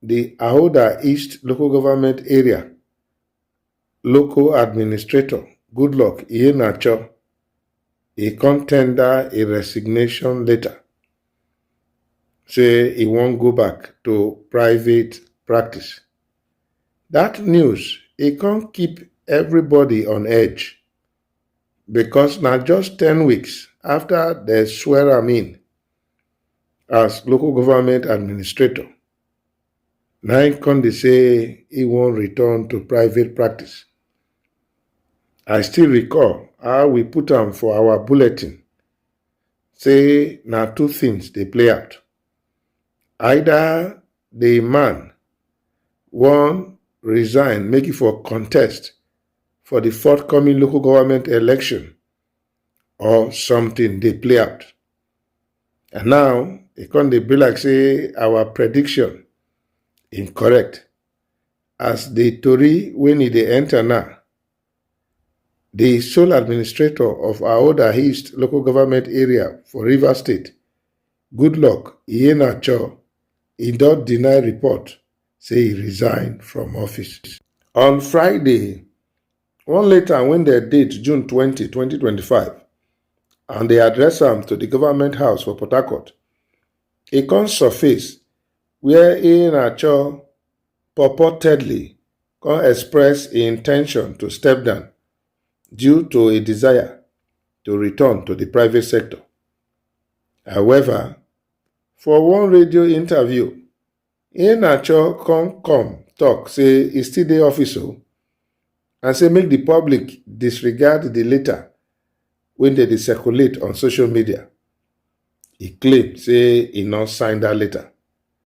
Di Ahoda East Local Government Area local administrator, Goodluck Iheanacho, e come tender a resignation letter say e wan go back to private practice. Dat news e come keep everybody on edge because na just ten weeks after dem swear am in as local government administrator na im come dey say he wan return to private practice. I still recall how we put am for our bulletin say na two things dey play out. Either the man wan resign make e for contest for the forthcoming local government election or something dey play out. And now e come dey be like say our prediction incorrect as the tori when e dey enter now. The sole administrator of Aoda East local government area for Rivers State, Goodluck Iheanacho, e don deny report say e resign from office. On Friday, One letter wey dem date June 20, 2025 and dey address am to di Government House for Port Harcourt, e come surface wia Iheanacho purportedly come express im in ten tion to step down due to a desire to return to di private sector. However, for one radio interview, Iheanacho come come tok say e still dey office o and say make di public disregard di letter wey dem dey circulate on social media. E claim say e no sign dat letter.